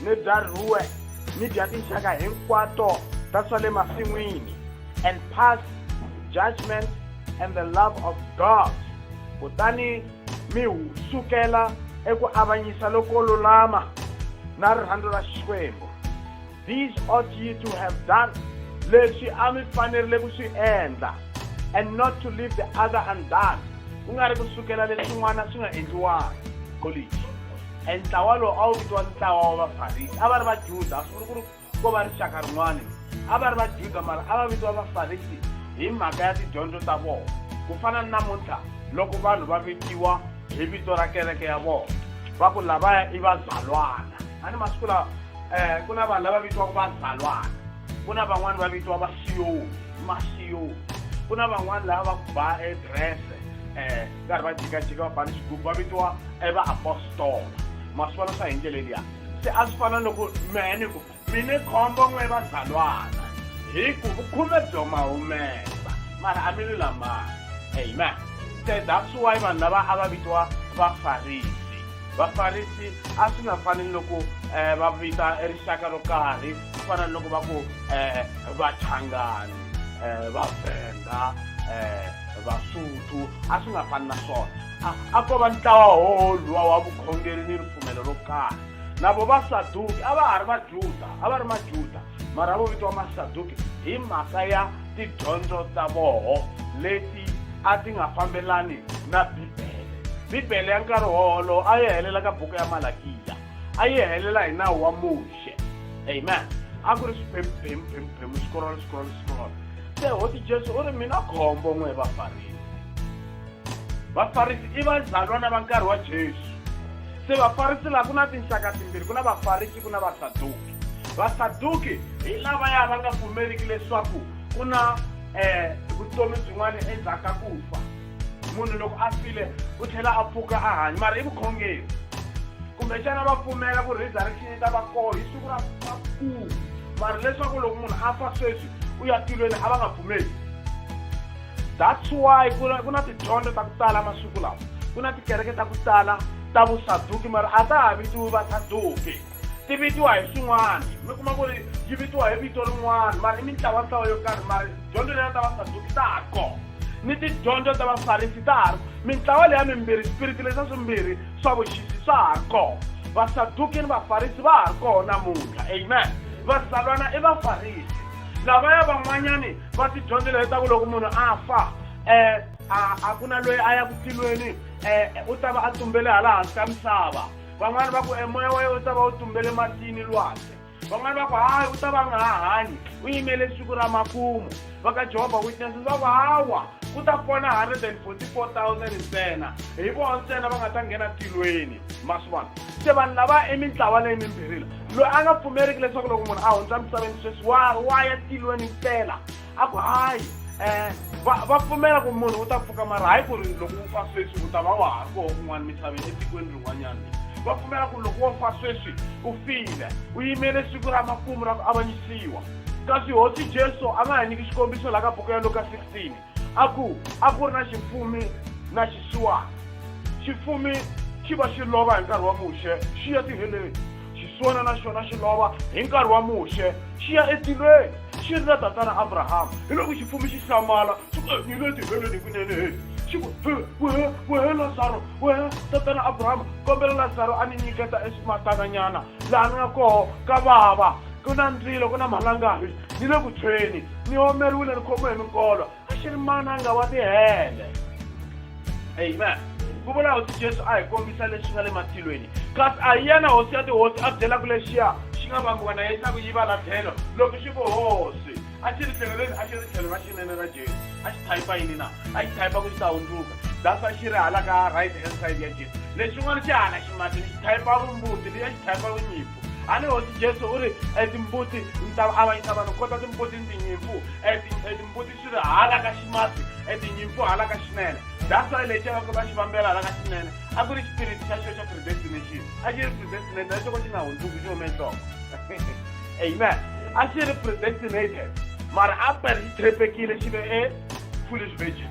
mi byariwe mi bya tinxaka hinkwato ta swa le masin'wini and pass judgment and the love of god kutani mi sukela eku avanyisa loko lulama na rirhandzu ra xikwembu these ought ye to have done leswi a mi fanerile ku swi endla and not to leave the other undone ku nga ri ku sukela leswin'wana swi nga endliwanga college e ntlawa lowu a wu vitiwa ntlawa wa vafarisi a va ri vajuda a swi vuli ku ri ko va rixaka rin'wana a va ri vajuda mara a va vitiwa vafarisi hi mhaka ya tidyondzo ta vona ku fana ni namuntlha loko vanhu va vitiwa hi vito ra kereke ya vona va ku lavaya i vazalwana a ni masiku lawa um ku na vanhu lava vitiwaka vazalwana ku na van'wani va vitiwa vasiyoni masiyoni ku na van'wani lava va ku ba edrese um karhi va jikajika va bani xigubu va vitiwa evaapostola ma swi vona swa hi ndlela liya se a swi fana loko mehe ni ku mi ni khombo n'we vazalwana hi ku vukhume byo ma humesa mara a mi lulamanga amen se that's why vanhu lava a va vitiwa vafarisi vafarisi a swi nga fani loko um va vita rixaka ro karhi ku fana ni loko va ku um vachangani um vavhenda um vasuthu a swi nga fani na swona a a ko va ntlawa wowo luwa wa vukhongeri ni ripfumelo ro karhi na vo vasaduki a va ha ri vajuda a va ri majuda mara vo vitiwa masaduki hi mhaka ya tidyondzo ta voho leti a ti nga fambelani na bibele bibele ya nkarhi wowolowo a yi helela ka buku ya malakiya a yi helela hi nawu wa muxe shit. Amen. A ku ri swiphemu phemu phemu swikorolo swikorolo swikorolo. Se hosi Jesu u ri mina khombo n'we vafarisi. Vafarisi i vazalwana va nkarhi wa Jesu. Se vafarisi laha ku na tinxaka timbirhi ku na vafarisi ku na vasaduki. Vasaduki hi lava ya va nga pfumeriki leswaku ku na eh vutomi byin'wana endzhaku ka ku fa. munhu loko a file u tlhela a pfuka a hanya mara i vukhongeri kumbexana va pfumela ku resurrection yi ta va koho hi siku ra vakulu mara leswaku loko munhu a fa sweswi u ya tilweni a va nga pfumeli that's why ku na ku na tidyondzo ta ku tala masiku lawa ku na tikereke ta ku tala ta vusaduki mara a ta ha vitiwi vasaduki Ti vitiwa hi swin'wana. Mi kuma ku ri yi vitiwa hi vito rin'wana mara i mintlawantlawa yo karhi mara dyondzo leya ta Vasaduki ta ha ri kona ni tidyondzo ta Vafarisi ta ha ri mintlawa leya mimbirhi swipiriti leswa swimbirhi swa vuxisi swa ha ri kona. Vasaduki ni Vafarisi va ha ri kona namuntlha. Amen. Vazalwana i Vafarisi. Lavaya van'wanyani va tidyondzo leyi ta ku loko munhu a fa um a a ku na loyi a ya ku tilweni um u ta va a tumbele hala hansi ka misava. van'wana va ku e moya wa yena wu ta va wu tumbele matini lwandle van'wana va ku hayi u ta va nga ha hanyi u yimele siku ra makumu va ka jehovha witnesses va ku hawa ku ta pona 144000 ntsena hi vona ntsena va nga ta nghena tilweni ma swi vona se vanhu lava i mintlawa leyi mimbirhila loyi a nga pfumeriki leswaku loko munhu a hundza misaveni sweswi wa wa ya tilweni mpela a ku hayi um va va pfumela ku munhu u ta pfuka mara hayi ku ri loko u fa sweswi u ta va wa ha ri koho kun'wana misaveni etikweni rin'wanyana va pfumela ku loko wo fa sweswi u file u yimele siku ra makumu ra ku avanyisiwa kasi hosi jesu a nga ha nyiki xikombiso laha ka buku ya luka 16 a ku a ku ri na xifumi na xisiwana xifumi xi va xi lova hi nkarhi wa muxe xi ya tiheleni xiswona na xona xi lova hi nkarhi wa muxe xi ya etilweni xi ri na tatana abrahama hi loko xifumi xi hlamala xi ku ni le tihelweni kunene he xi ku wehe wehe lazaro wehe tatana abrahama kombela lazaro a ni nyiketa eswimatananyana laha ni nga koho ka vava ku na ndzilo ku na malangahi ni le ku tshweni ni omeriwile ni khomiwe hi minkolo a xi ri mananga wa tihele amen ku vula hosi jesu a hi kombisa leswi nga le matilweni kasi a hi yena hosi ya tihosi a byelaka lexiya xi nga vambiwa na yena ku yi va la tlhelo loko xi ku hosi a xi ri tlhelo leri a xi ri tlhelo ra xinene ra jesu a xi thayipa yini na a xi thayipa ku xi ta hundzuka dasa xi ri hala ka right hand side ya jesu lexin'wana xi hala ximatini xi thayipa vumbuti leyi a xi thayipa vunyipi a ni hosi jesu u ri e timbuti ni ta avanyisa vanhu ku kota timbuti ni tinyimpfu e, e timbuti swi ri hala ka ximasi e tinyimpfu hala ka xinene that's why lexi va va xi vambela hala ka xinene a ku ri xipiriti xa xo xa predestination a xi ri predestination na xoko xi nga hundzuki xi hume nhloko amen a xi ri predestinated mara a per xi trepekile xi ve e foolish virgin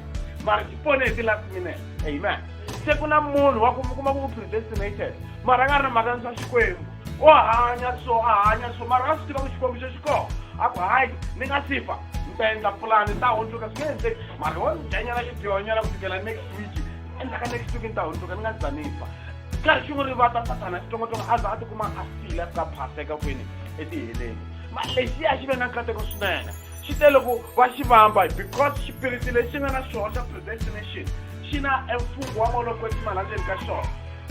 mara xi pone hi ti-last minute amen se ku na munhu wa ku mi kuma ku u predestinated mara a nga ri na mhaka ni swa xikwembu o hanya so a hanya so mara a swi tiva ku xikwembu xo xi kona a ku hayi ni nga si fa ni ta endla pulani ni ta hundzuka swi nge endleki mara wo ni dyanyana xidyonyana ku fikela next week endzaka next week ni ta hundzuka ni nga za ni fa karhi xin'we ri vata sathana xitsongotsongo a za a tikuma a file a fika phaseka kwini etiheleni mara lexiya xi ve na nkateko swinene xi tele ku va xi vamba because xipiriti lexi nga na xona xa predestination xi na emfungo wa maloku etimali endzeni ka xona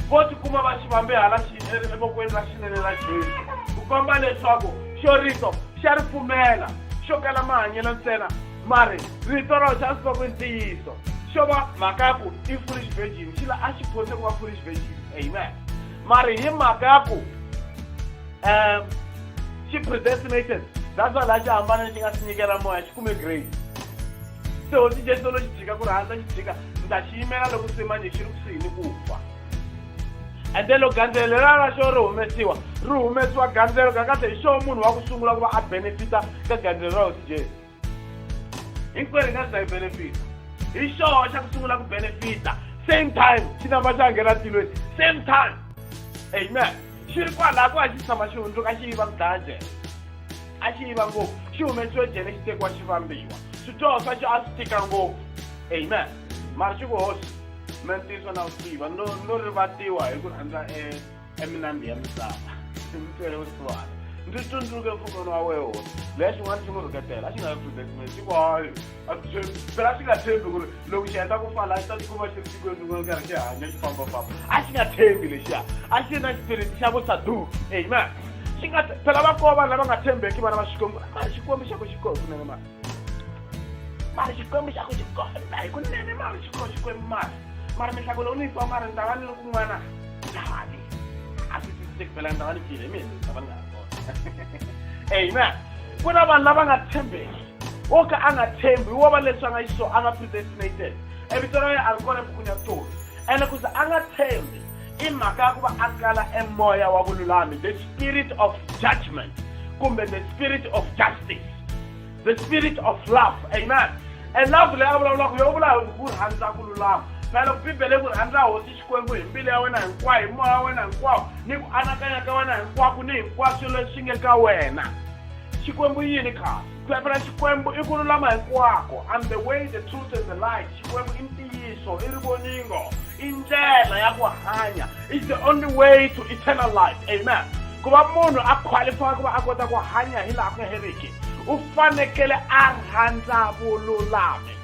vo tikuma va xi vambe hala xi evokweni ra xinene ra jesu ku komba leswaku xo rito xa ri pfumela xo kala mahanyelo ntsena mari rito ra xa swi va ku ntiyiso xo va mhaka ya ku i foolish virgin xi la a xi phose ku va foolish virgin amen mari hi mhaka ya ku um xi predestinated that's why laha xi hambana lexi nga xi nyikela moya xi kume grace se hosi jesu lo xi jika ku ri handza xi jika ni ta xi yimela loko se manje xi ri kusuhi ni ku fa and then loko gandzelo leriya ra xo ri humesiwa ri humesiwa gandzelo kakahle hi xo munhu wa ku sungula ku va a benefita ka gandzelo ra hosi jesu hinkwerhu nga sida hi benefita hi xoho xa ku sungula ku benefita same time xi namba xa nghena tilweni same time amen xi ri kwalaha ku a xi tshama xi hundzuka xi yiva ku dlaya jele a xi yiva ngopfu xi humesiwe jele xi tekiwa xi vambiwa swidyoho swa xo a swi tika ngopfu amen mara xi ku hosi me ntiyiso na wu tiva no no rivatiwa hi ku rhandza e eminambi ya misava ndzi twele vusiwana ndzi tsundzuke mfukano wa weho leya xin'wana xi n'wi rhuketela a xi nga protectment xi ku hayi phela xi nga tshembi ku ri loko xi heta ku fala a xi ta tikuma xi ri tikweni rin'wana karhi xi hanya xi fambafamba a xi nga tshembi lexiya a xi ri na xipiriti xa vusaduki amen xi nga phela va kova lava nga tshembeki vana va xikwembu a xikwembu xa ku xi kohi kunene mani mara xikwembu xa ku xi kota hi kunene mara xi kho xikwembu mara mara mihlako lowu ni yi twa mara ni ta va ni ri kun'wana ndhani a swi twisiseki phela ni ta va ni file hi mina ni ta va ni nga ha kona amen ku na vanhu lava nga tshembeki wo ka a nga tshembi wo va leswi a nga xiso a nga predestinated evito ra yena a ri kona ebukwini ya vutomi ene ku ze a nga tshembi i mhaka ya ku va a kala emoya wa vululami the spirit of judgment kumbe the spirit of justice the spirit of love amen and love leyi a vulavulaka yo vula ku rhandza ku lulama na loko bibele ku rhandza hosi xikwembu hi mbilu ya wena hinkwayo hi moya wa wena hinkwawo ni ku anakanya ka wena hinkwako ni hinkwaswo leswi nge ka wena xikwembu yini khasi Phepha ra Xikwembu i ku lulama hinkwako. I'm the way, the truth and the light. Xikwembu i ntiyiso, i rivoningo, i ndlela ya ku hanya. It's the only way to eternal life. Amen. Ku va munhu a qualify ku va a kota ku hanya hi laha ku nga heriki, u fanekele a rhandza vululami.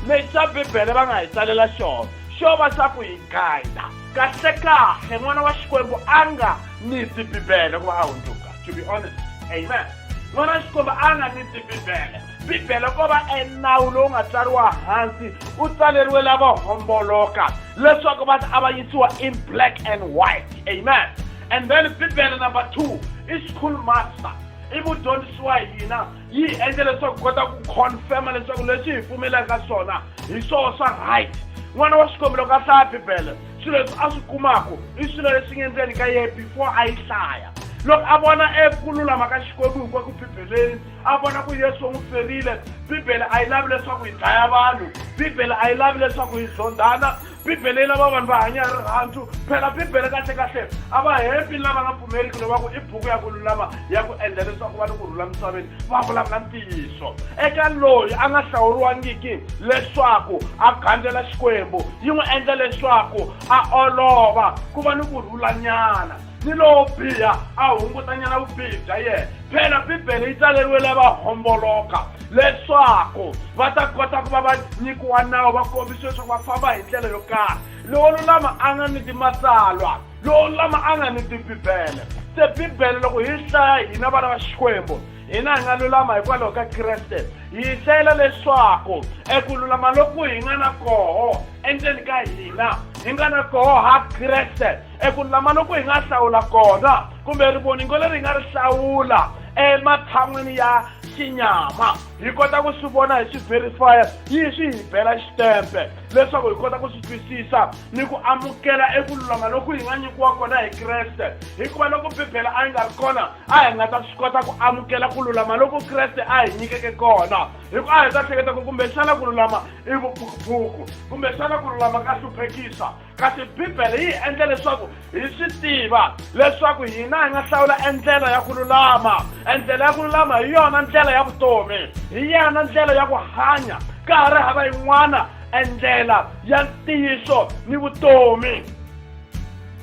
Lexi va Bibele va nga hi tsalela xona, xo va xa ku hi guida. Kahlekahle n'wana wa Xikwembu a nga ni ti Bibele ku va a hundzuka. to be honest amen n'wana xikomba a nga ni ti bibele bibele ko va enawu lowu nga tsariwa hansi u tsaleriwe lava homboloka leswaku va a va yisiwa in black and white amen and then bibele number two i school master i mudyondzisi wa hina yi hi endla leswaku kota ku confirma leswaku leswi hi pfumelaka swona hi swoho swa right n'wana wa xikwembu loko a hlaya bibele swilo leswi a swi kumaka i swilo leswi nga endzeni ka yena before a yi hlaya loko a vona eku lulama ka xikwembu hinkwaku bibeleni a vona ku yesu n'wi ferile bibele a yi lavi leswaku hi dlaya vanhu bibele a yi lavi leswaku hi zondhana bibele yi lava vanhu va hanya hi rirhandzu phela bibele kahlekahle a va hembi lava nga pfumeriki lova ku i buku ya ku lulama ya ku endla leswaku va ni ku rhula misaveni va vulavula ntiyiso eka loyi a nga hlawuriwangiki leswaku a gandzela xikwembu yi n'wi endla leswaku a olova ku va ni ku rhulanyana ni lowo biha a hungutanyana vubihi bya yena phela bibele yi tsaleriwile va homboloka leswaku va ta kota ku va va nyikiwa nawu va kombisiwa leswaku va famba hi ndlela yo karhi lowo lulama a nga ni timatsalwa lowo lulama a nga ni tibibele se bibele loko hi hlaya hina vana va xikwembu hina hi nga lulama hikwalaho ka kreste hi hlayela leswaku eku lulama loku hi nga na koho endzeni ka hina hi nga na koho ha kreste eku lama loku hi nga hlawula kona kumbe rivoningo leri hi nga ri hlawula ematshan'wini ya xinyama hi kota ku swi vona hi swi verifya yi swi hi bela xitempe leswaku hi kota ku swi twisisa ni ku amukela eku lulama loku hi nga nyikiwa kona hi kreste hikuva loko bibele a yi nga ri kona a hi nga ta swi kota ku amukela ku lulama loko kreste a hi nyikeke kona hikuva a hi ta hleketa ku kumbexana ku lulama i vuphukuphuku kumbexana ku lulama ka hluphekisa kasi bibele yi hi endla leswaku hi swi tiva leswaku hina hi nga hlawula endlela ya ku lulama endlela ya ku lulama hi yona ndlela ya vutomi hi yena ndlela ya ku hanya ka ha ri hava yin'wana endlela ya ntiyiso ni vutomi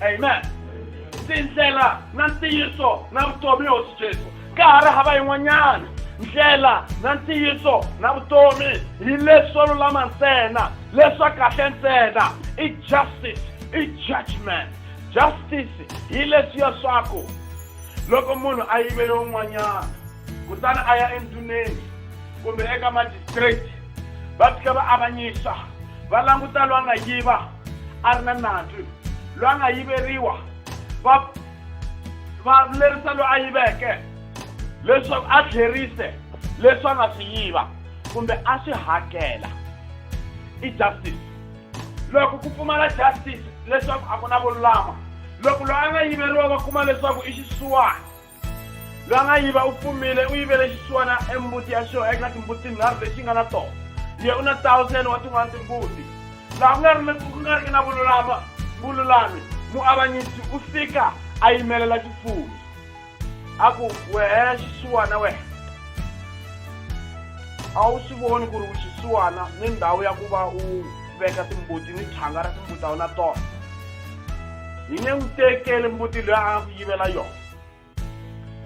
amen tindlela na ntiyiso na vutomi hosi jesu ka ha ri hava yin'wanyana ndlela na ntiyiso na vutomi hi leswo lulama ntsena leswa kahle ntsena i justice i judgment justice hi leswi ya swaku loko munhu a yivele un'wanyana kutani a ya endhuneni kumbe eka magistrate va fika va avanyisa va languta loyi a nga yiva a ri na nandzu loyi a nga yiveriwa va va lerisa loyi a yiveke leswaku a tlherise leswi a nga swi yiva kumbe a swi hakela i justice loko ku pfumala justice leswaku a ku na vululama loko loyi a nga yiveriwa va kuma leswaku i xisiwana loyi a nga yiva u pfumile u yivele xisiwana embuti ya xona eka timbuti tinharhu lexi nga na tona ye u na thousand wa tin'wana timbuti laha ku nga ri na ku nga riki na vululama vululami muavanyisi u fika a yimelela xifumi a ku wehe xisiwana wehe a wu swi voni ku ri u xisiwana ni ndhawu ya ku va u veka timbuti ni thyanga ra timbuti a wu na tona hi nge n'wi tekeli mbuti loyi a ku yivela yona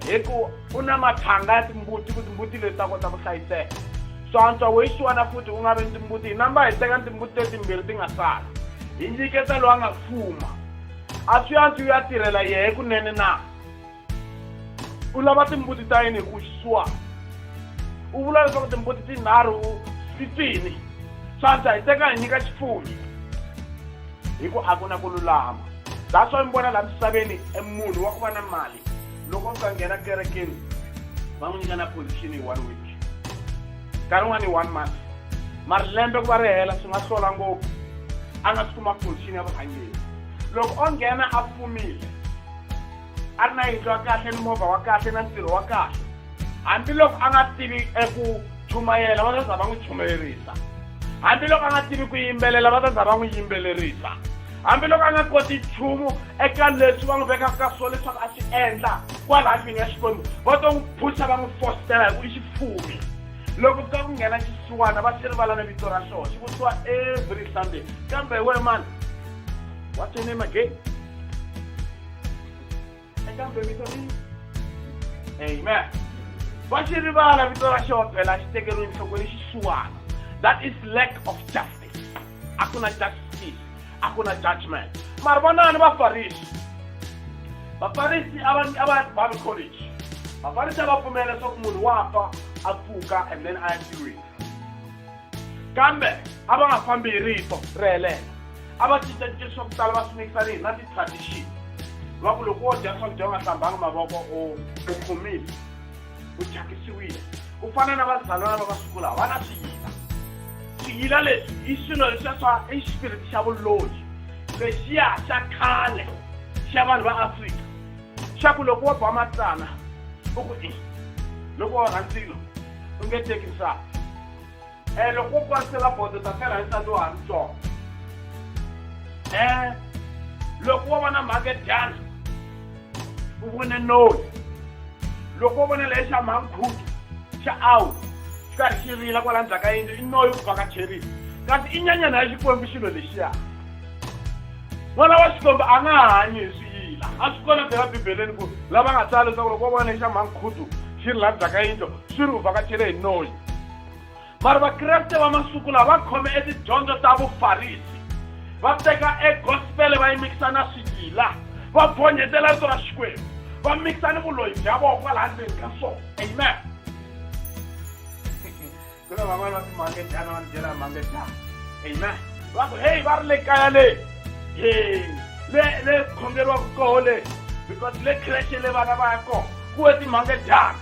hi ku u na mathanga ya timbuti ku timbuti leti ta kota ku hlayiseka swantswa wo yixiwana futhi u nga vi ni timbuti hi namba hi teka ni timbuti letimbirhi ti nga sala hi nyiketa loyi a nga fuma a swi antswi u ya tirhela yehe kunene na u lava timbuti ta yini hi ku xiswa u vula leswaku timbuti tinharhu swi twini swantswa hi teka hi nyika xifumi hi ku a ku na ku lulama that's why mi vona laha misaveni e munhu wa ku va na mali loko mi ka nghena kerekeni va n'wi nyika na position hi one week nkarhi un'wana hi one month mari lembe ku va ri hela swi nga hlola ngopfu a nga swi kuma position ya vurhangeri loko o nghena a fumile a ri na yindlu ya kahle ni movha wa kahle na ntirho wa kahle hambiloko a nga tivi eku chumayela va ta za va n'wi chumayerisa hambiloko a nga tivi ku yimbelela va ta za va n'wi yimbelerisa hambiloko a nga koti nchumu eka leswi va n'wi vekaka ka swona leswaku a swi endla kwala ndlwini ya xikwembu va to n'wi phusha va n'wi fositela hi ku i xifumi loko ka ku nghena xisiwana va xi rivala na vito ra xona xi vutiwa every sunday kambe hi wena mani what's your name again eka mbe vito ri amen va xi rivala vito ra xona phela xi tekeriwe nhlokweni xisiwana that is lack of justice a ku na justice a ku na judgment mari vonani vafarisi vafarisi a va bible college vafarisi a va pfumela leswaku munhu wa fa a pfuka and then a ya tirhweni kambe a va nga fambi hi rito ri helela a va cincacinca swa ku tala va swi mikisa ni hina ti-tradition va ku loko wo dya swakudya u nga hlambanga mavoko u u khomile u thyakisiwile ku fana na vazalwana va masiku lawa va na swiyila swiyila leswi i swilo leswiya swa i xipiriti xa vuloyi lexiya xa khale xa vanhu va afrika xa ku loko wo ba matsana u ku i loko wa rhandzilo u nge teki nsati Eh, loko u kwanisela bodo ta fela hi nsati wa ha ri tsongo eh loko wo vona mhake dyana u vone noni loko wo vona leyi xa mhankhuti xa awu xi karhi xi rila kwala ndzhaku ka yindlu i noyi ku vaka cherisi kasi i nyanyana ya xikwembu xilo lexiya n'wana wa xikwembu a nga hanyi hi swiyila a swi kona phela bibeleni ku lava nga tsala leswaku loko wo vona leyi xa mhankhutu xi rila ndzhaku ka yindlu swi ri u vakacherile hi noyi mara vakreste va masiku lawa va khome etidyondzo ta vufarisi va teka egospele va yi mikisa na swigila va bonyetela rito ra xikwembu va mikisa ni vuloyi bya vona kwalaha ndzeni ka swona amen ku na van'wana va timangedyana va ni byela mangedyana amen va ku heyi va ri le kaya le he le le khongeriwaka koho le because le khreshe le vana va ya kona ku we timangedyana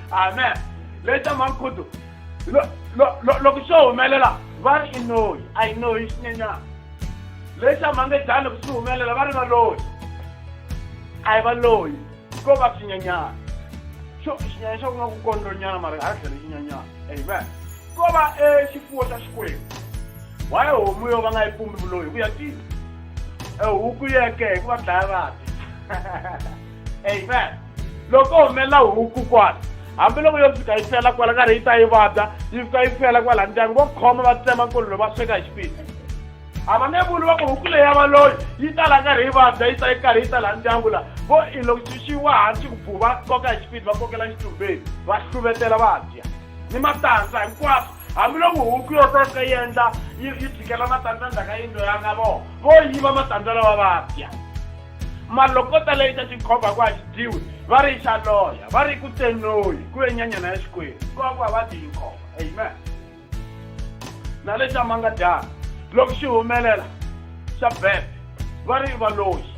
amen leta mankhudu loko swo humelela va ri i noyi a yi noyi xinyenyana leta mangejani loko swi humelela va ri va loyi a yi va loyi ko va xinyenyana xo xinyanya xa ku nga ku kondlonyana mara a tlhele xinyanyana amen ko va e xifuwo xa xikwembu why homu yo va nga yi pumbi vuloyi hi ku ya tiva e huku yeke hi ku va dlaya vati amen loko humelela huku kwala hambiloko yo fika yi fela kwala karhi yi ta yi vabya yi fika yi fela kwala ndyangu vo khoma va tsema nkolono va sweka hi xipidi a va nge vuli va ku huku leyi ya valoyi yi ta la karhi yi vabya yi ta yi karhi yi ta la ndyangu la vo i loko xi xi wa hansi ku bhu va koka hi xipidi va kokela xitumbeni va hluvetela va dya ni matandza hinkwaswo hambiloko huku yo to fika yi endla yi yi tshikela matandza ndzhaka yindlo ya nga vona vo yiva matandza lawa va dya malokota leyi xa xikhova ku a xi dyiwi va ri xa loya va ri ku tsenoyi ku ve nyanyana ya xikwembu ku va ku a va dyi yi nkhova amen na lexi a ma nga dyanga loko xi humelela xa bebe va ri valoyi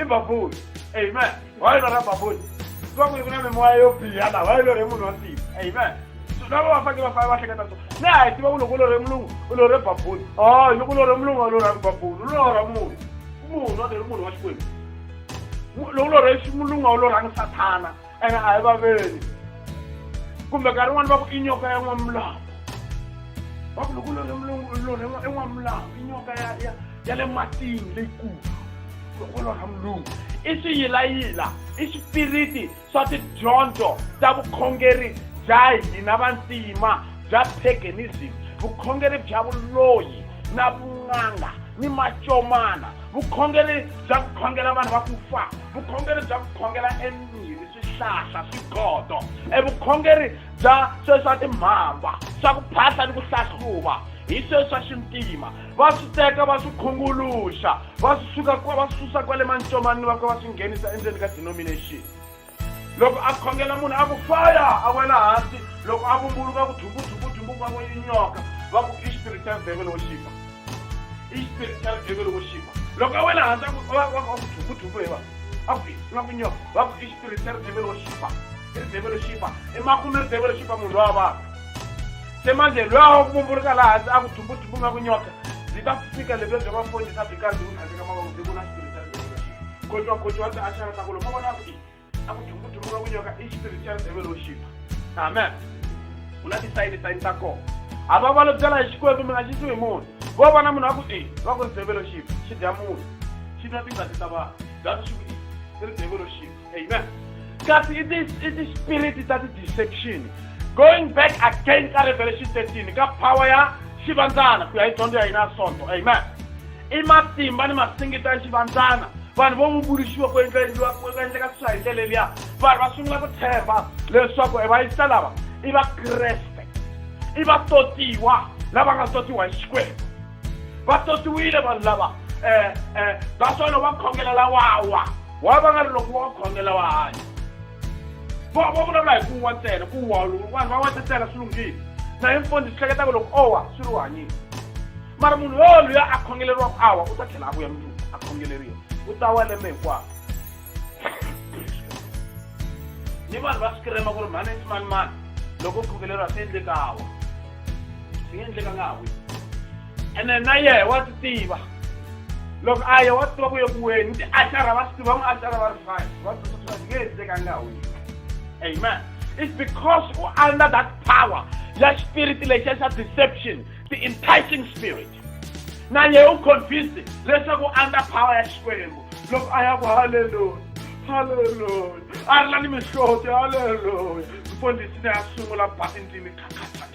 imbabuli amen wailora mbabuli kwakuli kuna mimoya yo biha la wailore munhu wa ntima amen lava va fanele va fane va hleketa so na hi tiva ku loko u lore mulungu u lore babuli o oh, loko u lore mulungu a lorhangi babuli u lorha munhu munhu a lori munhu wa xikwembu loko u lorhe mulungu a wu lorhangi sathana ene a hi vaveni kumbe nkarhi rin'wana va ku i nyoka ya n'wamulamu va ku loko lorha en'wamulamu i nyoka ya le matini leyikulu loko lorha mulungu i swiyilayila i swipiriti swa tidyondzo ta vukhongeri bya hina vantima bya paganism vukhongeri bya vuloyi na vun'anga ni macomana vukhongeri bya ku khongela vanhu va ku fa vukhongeri bya ku khongela emirhi swihlahla swigodo evukhongeri bya sweswi swa timhamba swa ku phahla ni ku hlahluva hi sweswi swa xintima va swi teka va swi khunguluxa va swi suka va swi susa kwale mancomanini va ka va swi nghenisa endzeni ka denomination loko a khongela munhu a ku faya a wela hansi loko a vumbuluka ku thumbuthumbu thumbuka ku yinyoka va ku i spiritual devil wo xipa i spiritual devil wo xipa loko a wela hansi a ku thumbuthumbu hi va a ku nga ku nyoka va ku i spiritual devil wo xipa i ri devil wo xipa i makume ri devil wo xipa munhu lowa vanhu Se manje lwaho kubumbuluka la hansi a ku thumbu-thumbu nga ku nyoka, byi ta fika lebyo bya mafonyisa byi karhi byi ku tlhandleka mavoko byi vula xitori xa ndhevelo xi kotwa-kotwa byi axana ta ku loko vona ku i a ku thumbu-thumbu nga ku nyoka i xitori xa ndhevelo xipa amen ku na tisayini-sayini ta kona a va valo byela hi xikwembu mi nga xisiwi hi munhu vo vona munhu wa ku i va ku ri ndhevelo xipa xi dya munhu xi nwa tingati ta vanhu byatso xi ku i i ri ndhevelo xipa amen kasi i ti-spirit ta ti-deception going back again ka revelation 13 ka power ya xivandzana ku ya hi dyondzo ya hina ya sonto amen i matimba ni masingita ya xivandzana vanhu vo vumbuluxiwa ku endlaendliwa ku endleka swi swa hi ndlela liya vanhu va sungula ku tshemba leswaku e vayisa lava i vakreste i vatotiwa lava nga totiwa hi xikwembu va totiwile vanhu lava um um va swona va khongela lawawa wa va nga ri loko wa khongela wa hanya va va vulavula hi ku wa ntsena ku wa vanhu va wa ntsena swi lunghile na hi mfundhi swi hleketaka loko o wa swi ri u hanyile mara munhu yoluya a khongeleriwaka a wa u ta tlhela a vuya mundzuku a khongeleriwa u ta wa lembe hinkwako ni vanhu va swi kirema ku ri mhani i mani mani loko u khongeleriwa swi endleka a wa swi nga endleka nga ha wi ene na yehe wa swi tiva loko a ye wa swi tiva ku yeku weni ti axara va swi tiva n'wi axara va ri fine va tsotsoa nge he teka nga wini amen it's because u under that power ya spirit lexiya xa deception the enticing spirit na yehe u convinced leswaku under power ya xikwembu loko a ya ku halleluya halleluya a ri la ni mihloti halleluya mfundhisi ne ya sungula ba endlini khakhatha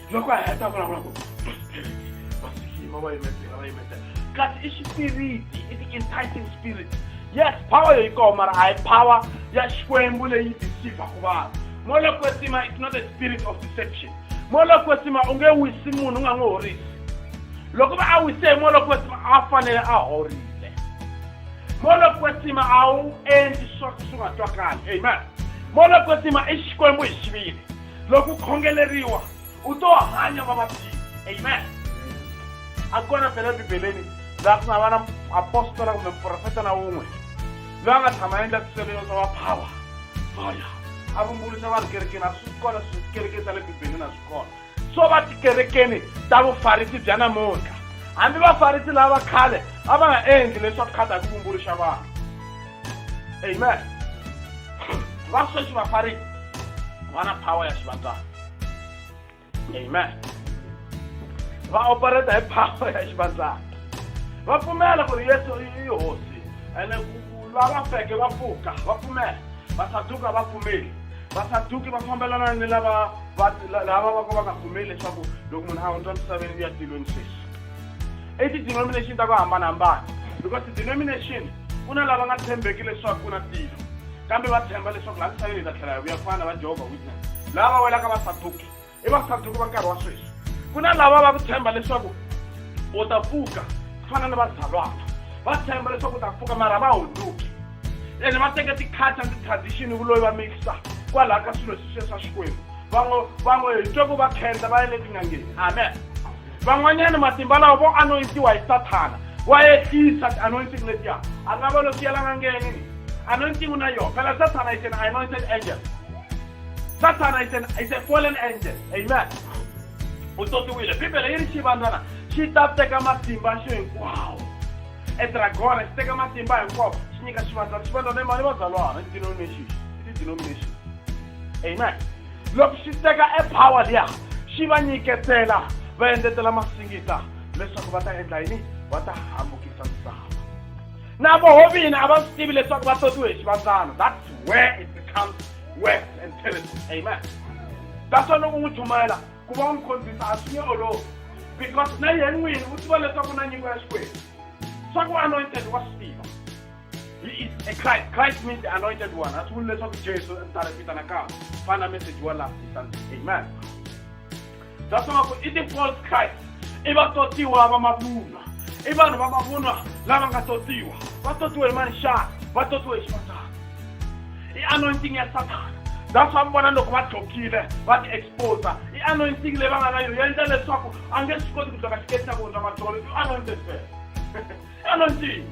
loko a heta vulavula ku vasikima va yimetela va yimetela kasi i xipiriti i ti-enticing spirit yes power yo yi koho mara a hi power ya xikwembu leyi deceivaku vanhu molokwesima it's not a spirit of deception molokwesima u nge wisi munhu u nga n'wi horisi loko va a wise hi molokwesima a fanele a horile molokwesima a wu endli swa swi nga twakali amen molokwesima i xikwembu hi xivile loko u khongeleriwa u to hanya vavabyi amen a kona phela bibeleni laha ku nga va na apostola kumbe muprofeta na wun'we loyi a nga tshama a endla swiselelo swa vaphawa vaya a vumbuluxa vanhu kerekeni a swi kona swikereke ta le bibeleni a swi kona swo va tikerekeni ta vufarisi bya namuntlha hambi vafarisi lava khale a va nga endli leswaku khata hi ku vumbuluxa vanhu Hey man, va sweswi vafari va na power ya xivandlana. Hey man, va operate hi power ya xivandlana. Va pfumela ku ri Yesu i hosi, ene lava feke va pfuka, va pfumela. Vasaduka va pfumeli. Vasaduki va fambelana ni lava va lava va ka va nga pfumeli leswaku loko munhu a hundza misaveni u ya tilweni sweswi. i ti-denomination ta ku hambanahambana because ti-denomination ku na lava nga tshembeki leswaku ku na tilo kambe va tshemba leswaku laha misaveni hi ta tlhela hi vuya ku fana na va jehovha witness lava va welaka vasaduki i vasaduki va nkarhi wa sweswi ku na lava va ku tshemba leswaku u ta pfuka ku fana na vazalwana va tshemba leswaku u ta pfuka mara va hunduki ene va teke ti-culture ti-tradition vuloyi va mixa kwalaha ka swilo sweswiya swa xikwembu van'we van'we hi twe ku va khenda va ya le tin'angeni amen van'wanyana matimba lawa vo anointiwa hi sathana wa ehlisa ti-anointing letiya a nga va lo swi yelanga ngeni ni anointing u na yona phela sathana is an anointed angel sathana is an is a fallen angel amen u totiwile bibele yi ri xivandzana xi ta teka matimba xo hinkwawo edragona xi teka matimba hinkwawo xi nyika xivandzana xivandzana i mali vazalwana i denomination i ti-denomination amen loko xi teka e power liya xi va nyiketela va endletela masingita leswaku va ta endla yini va ta hambukisa misava na vohovina a va swi tivi leswaku va totiwe hi xivandzana that's where it becomes worse and terrible amen that's why loko n'wi chumayela ku va u n'wi khondzisa a swi nge olovi because na yena n'wini u tiva leswaku na nyiko ya xikwembu swa ku anointed wa swi tiva Christ, Christ means the anointed one. As we listen to Jesus and start with an account, find a message you last Sunday. Amen. That's why we eat the false Christ. Iba totiwa ba mabuna. Iba no ba mabuna lava nga totiwa. Va totiwa hi manxana, va totiwa hi xipatana. I anointing ya Satan. that's why vona loko va dlokile va ti exposa i anointing leyi va nga na yona yi endla leswaku a nge swi koti ku dloka xiketi xa vona va dlove i anointed first anointing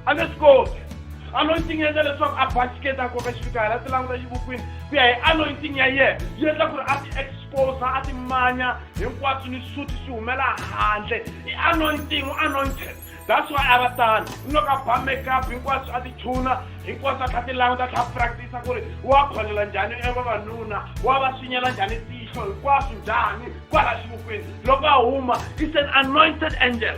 a nge swi koti anointing endla leswaku a basiketa a koka xifikahela a ti languta xivukwini ku ya hi anointing ya yena yi endla ku ri a ti exposa a ti manya hinkwaswo ni suti swi humela handle i anointing u anointed that's why a va tani ni loko a ba makeup hinkwaswo a ti chuna hinkwaswo a tlha ti languta a tlha practice ku ri wa kholela njhani e vavanuna wa va swinyela njhani tihlo hinkwaswo njhani kwala xivukwini loko a huma is an anointed angel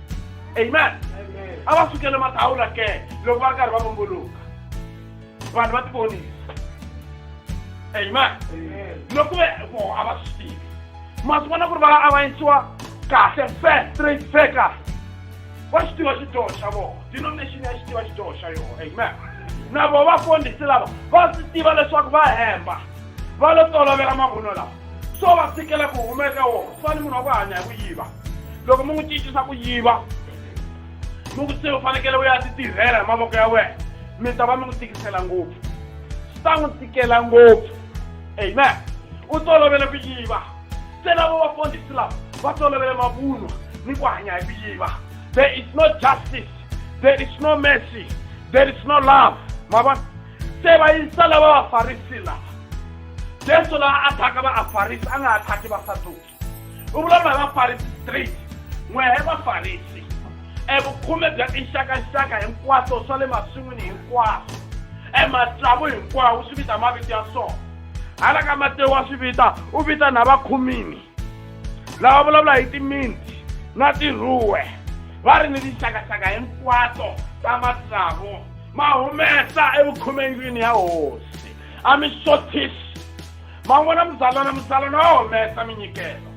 amen a va sukele matawula ke loko va ri karhi va vumbuluka vanhu va tivonisa amen loko ve vo a va swi tivi ma swi vona ku ri va avanyisiwa kahle fe straight fe kahle va xi tiva xidyoho xa vona denomination ya xi tiva xidyoho xa yona amen na vo vafundhisi lava va swi tiva leswaku va hemba va lo tolovela mavunwa lawa so va tshikela ku humeka wona swa ni munhu wa ku hanya hi ku yiva loko mi n'wi cincisa ku yiva mi ku se u fanekele u ya ti tirhela hi mavoko ya wena mi ta va mi n'wi tikisela ngopfu swi ta n'wi tikela ngopfu amen u tolovele ku yiva se lavo vafundhisi lava va tolovele mavunwa ni ku hanya hi ku yiva there is no justice there is no mercy there is no love ma vona se va yisa lava vafarisi lava jesu laha a thaka va afarisi a nga ha thaki vasaduki u vulavula hi vafarisi straight n'we hi vafarisi evukhume bya tinxakanxaka hinkwaswo swa le maswin'wini hinkwaswo ematsavu hinkwawo swi vita mavito ya swona hala ka matewu wa swi vita u vita na vakhumini lava vulavula hi timinti na tiruwe va ri ni tinxakaxaka hinkwato ta matsavu ma humesa evukhumendlwini ya hosi a mi xothisi ma n'wi vona muzalwana muzalwana wa humesa minyikelo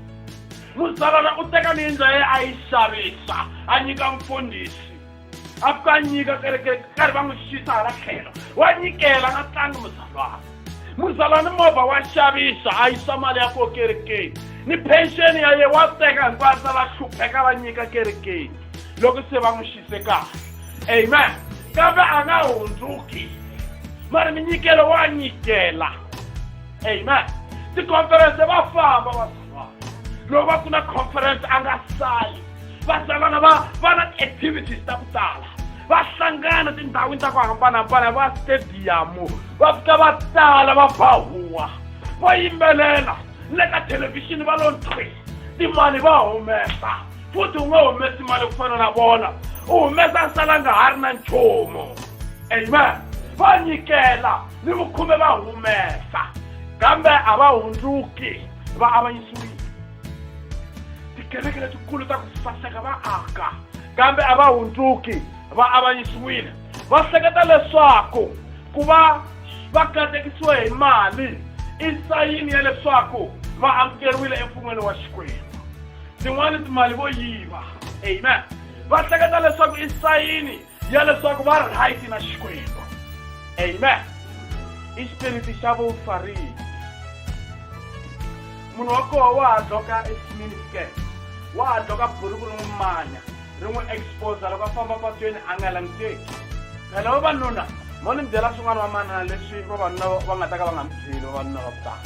muzalwana u teka miyindlo ya yena a yi xavisa a nyika mfundhisi a fika a nyika kereke karhi va n'wi xisa hala tlhelo wa nyikela na tlangi muzalwana muzalwana movha wa xavisa a yisa mali ya koho kerekeni ni pension ya yena wa teka hinkwayo a sala hlupheka va nyika kerekeni loko se va n'wi xise kahle amen kambe a nga hundzuki mari minyikelo wa nyikela amen tikhomferense va famba vasava loko va ku na khomferense a nga sali vasavana va va na ti-activities ta ku tala va hlangana tindhawini ta ku hambanahambana va stadiyamu va fika va tala va bahuwa va yimbelela le ka thelevhixini va lo nthwi timali va humesa futhi u nga humesi mali ku fana na vona u humesa nsala nga ha ri na nchumu amen va nyikela ni vukhume va humesa kambe a va hundzuki va avanyisiwile tikereke letikulu ta ku saseka va aka kambe a va hundzuki va avanyisiwile va hleketa leswaku ku va va katekisiwe hi mali i sayini ya leswaku va amukeriwile emfun'weni wa xikwembu tin'wani timali vo yiva amen va hleketa leswaku i sayini ya leswaku va right na xikwembu amen i xipiriti xa vufarisi munhu wa koho wa ha dloka esimini ske wa ha dloka buruku ri n'wi manya ri n'wi exposa loko a famba patweni a nga languteki phela vavanuna mo ni byela swin'wana vamanana leswi vavanuna va nga ta ka va nga mi byeli vavanuna va ku tala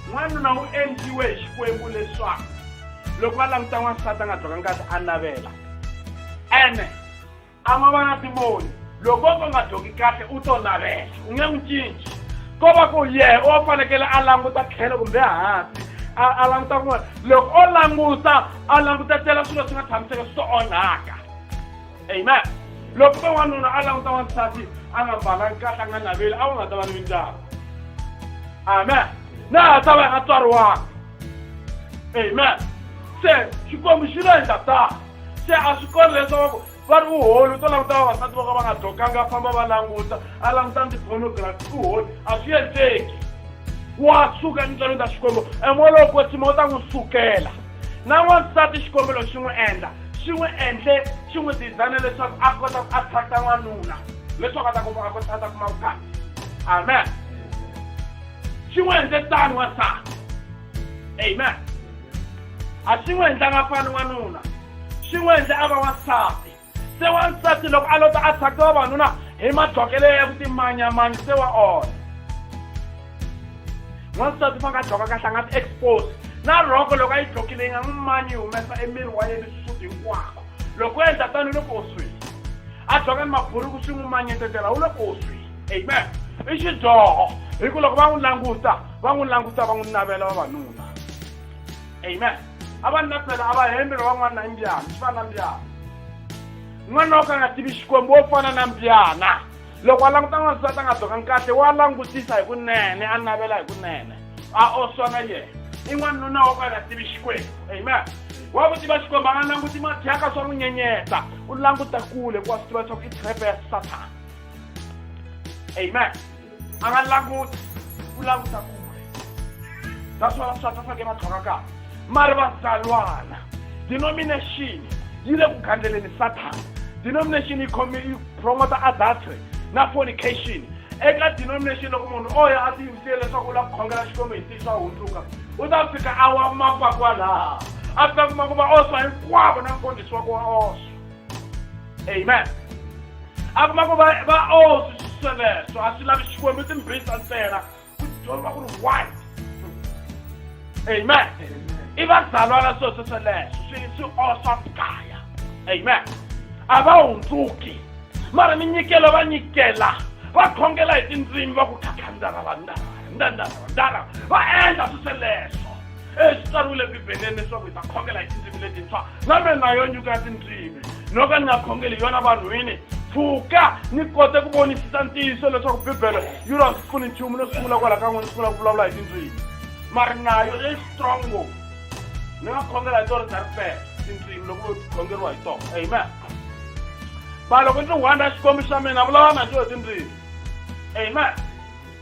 n'wanuna wu endliwe hi xikwembu leswaku loko va languta n'wansati a nga dzoka ngati a navela ene a ma va na timoni loko va nga dzoki kahle u to navela u nge n'wi cinci ko va ku yehe o fanekele a languta tlhelo kumbe hansi a languta kun'wana loko o languta a langutetela swilo swi nga tshamiseka swi to onhaka amen loko ka wanuna a languta wansati a nga mbalanga kahle a nga naveli a wu nga ta va ni mindyangu amen na ha ta va nga tswariwanga amen se xikwembu xi lo endla tano se a swi kona leswaku va ri uholi u to languta vavasati vo ka va nga dyokanga a famba va languta a languta ndzi pornography uholi a swi endleki wa suka nitswalo ta xikwembu emoya lowo kwetsima u ta n'wi sukela na n'wansati xikombelo xi n'wi endla xi n'wi endle xi n'wi dizayina leswaku a kota ku attracta n'wanuna leswaku a ta kuma a kota a ta kuma vukati amen xi n'wi endle tani wansati amen a xi n'wi endlanga fani n'wanuna xi n'wi endle a va wansati se wansati loko a lota a tshake vavanuna hi madlokelo ya ku timanyamanya se wa onha n'wansati fa nga dloka kahle a nga ti expose na rhoko loko a yi dlokile yi nga n'wi manyi yi humesa emiri wa yena xisuti hinkwako loko u endla tani u le koswini a dloka ni maburuku swi n'wi manyetetela u le koswini amen i xidyoho hi ku loko va n'wi languta va n'wi languta va n'wi navela vavanuna amen a va nna fela a va hembela wa n'wana mbyana swi fana na mbyana n'wana wo ka nga tivi xikwembu wo fana na mbyana loko a languta n'wansati a nga dzokanga kahle wa langutisa hi kunene a navela hi kunene a oswana yena i n'wanuna wo ka nga tivi xikwembu amen wa ku tiva xikwembu a nga languti mathyaka swa n'wi nyenyeta u languta kule ku wa swi tiva leswaku i trepe ya sathana amen a va languti ku languta kule naswona vaswati va fanekele va tlhoka kahle mari vazalwana denomination yi le ku gandzeleni sathana denomination yi khome yi promota adultery na fornication eka denomination loko munhu o ya a tiyimisile leswaku u lava ku khongela xikwembu hi ntiyiso a hundzuka u ta fika a wa mapa kwalaha a ta kuma ku va oswa hinkwavo na mfundhisi wa ku wa oswa amen a kuma ku va va o oh, swi sweleswo a swi lavi xikwembu timbisa ntsena ku dyondza ku ri why amen i vazalwana swilo swi sweleswo swi swi oswa mugaya amen a va hundzuki mara mi nyikela va nyikela va khongela hi tindzimi va ku khakhandara vandara ndandara vandara va endla swi sweleswo e swi tsariwile bibeleni leswaku hi ta khongela hi tindzimi letintshwa kambe na yo nyuka ya tindzimi no ka ni nga khongeli yona vanhwini pfuka ni kote ku vonisisa ntiyiso leswaku bibele yi ri a swi pfuni nchumu no sungula kwala ka n'wini sungula ku vulavula hi tindzimi mari nayo leyi strong ngopfu ni nga khongela hi tona tarifela tindzimi loko vo khongeriwa hi tona amen va loko ndzi hwanda xikwembu xa mina vulavula na njo hi tindzimi amen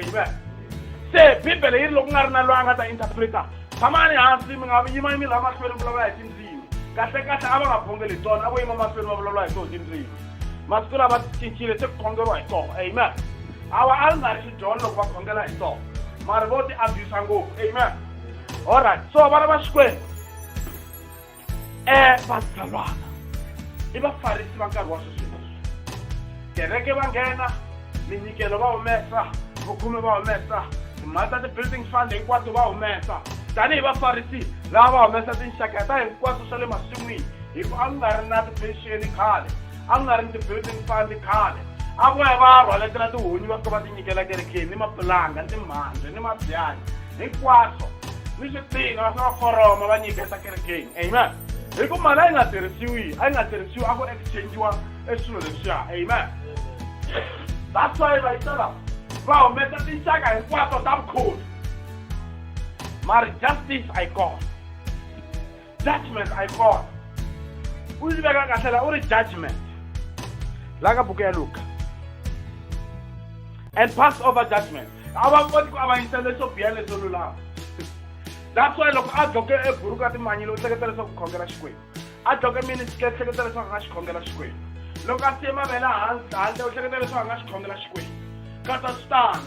amen se bibele yi ri loko ku nga ri na loyi a nga ta interpreta tshamani hansi mi nga yima yimi laha mahlweni mi vulavula hi tindzimi kahle kahle a va nga bongeli hi tona a vo yima mahlweni va vulavula hi toho tindzimi masiku lava cincile se ku khongeriwa hi toho amen awa a ri nga ri xidyolo loko va khongela hi toho mara vo ti abuse ngopfu amen allright so vana va xikwembu um vazalwana i vafarisi va nkarhi wa sweswi kereke va nghena minyikelo va humesa vukhume va humesa timali ta ti-building fund hinkwato va humesa tanihi vafarisi lava va humesa tinxaka ta hinkwaswo swa le masin'wini hi ku a ku nga ri na ti-pension khale a ku nga ri ni ti-building fund khale a ku ya va ya rhwaletela tihunyi va fika va tinyikela kerekeni ni mapulanga ni timhandze ni mabyanyi hinkwaswo ni swipina va fika va foroma va nyiketa kerekeni amen hi ku mali a yi nga tirhisiwi a yi nga tirhisiwi a ku exchangiwa e swilo leswiya amen that's why va yitala va humesa tinxaka hinkwato ta vukholi mari justice a yi kona judgment a yi kona u yi veka kahle la u ri judgment la ka buku ya luka and pass over judgment a va koti ku avanyisa leswo biha leswo lulama that's why loko a dloke eburuku a timanyile u hleketa leswaku khongela xikwembu a dloke mini hleketa leswaku a nga xi khongela xikwembu loko a siye mavele handle u hleketa leswaku a nga xi khongela xikwembu katsa swi tano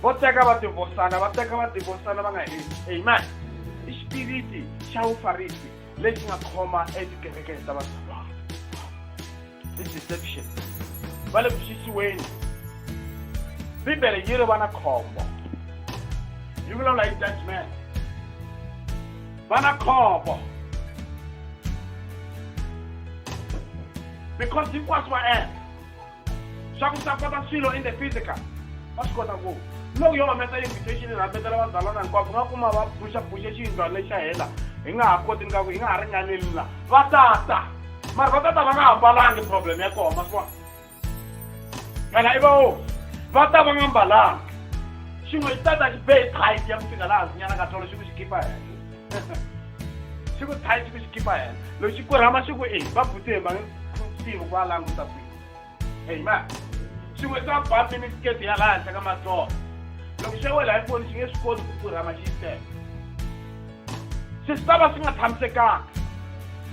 vo teka va tivosana va teka va tivosana va nga heli amen i xipiriti xa vufarisi lexi nga khoma etikerekeni ta vatsonga i deception va le ku xisiweni bibele yi ri va na khombo yi vulavula hi judgment va na khombo because hinkwaswo va endla swa ku swa kota swilo in the physical va swi kota ku loko yo humesa invitation rhambetela vazalwana hinkwavo nga kuma va phuxa phuxe xiyindlwana lexi xa hela hi nga ha koti ngaku hi nga ha ringaneli la va tata mara va tata va nga hambalangi problem ya koma swa phela i vawo va ta va nga mbalanga xin'we xi tata xi bee tight ya ku fika laha zinyana ka tolo xi ku xi khipa henhla xi ku tight xi ku xi khipa henhla loko xi kurhama xi ku e va butihe va nge tivi ku va languta kwihi heyi ma xin'we xa bambi ni siketi ya laha henhla ka matsolo loko xo wela hi foni xi nge swi koti ku kurhama xi yi teka se swi ta va swi nga tshamisekanga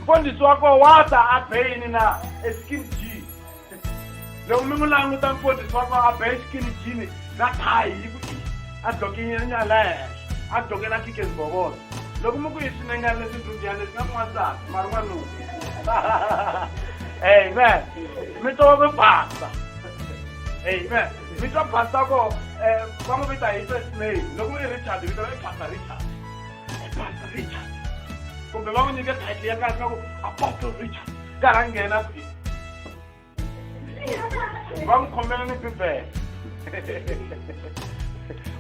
mfundhisi wa koho wa ta a be yini na eskin jean loko mi n'wi languta mfundhisi wa koho a be skin jean na thayi yi ku i a dlokenyanya la henhla a dlokela kikesbobolo loko mi ku yi swinengana leswi ndlubiyana leswi nga n'wansati mari n'wanuna amen mi twa mi basa amen mi twa basa ko um va n'wi vita hi first name loko i richard vito i basa richard i basa richard kumbe va n'wi nyike title ya kahle ku apostle richard karhi a nghena kwihi va n'wi khomela ni bibele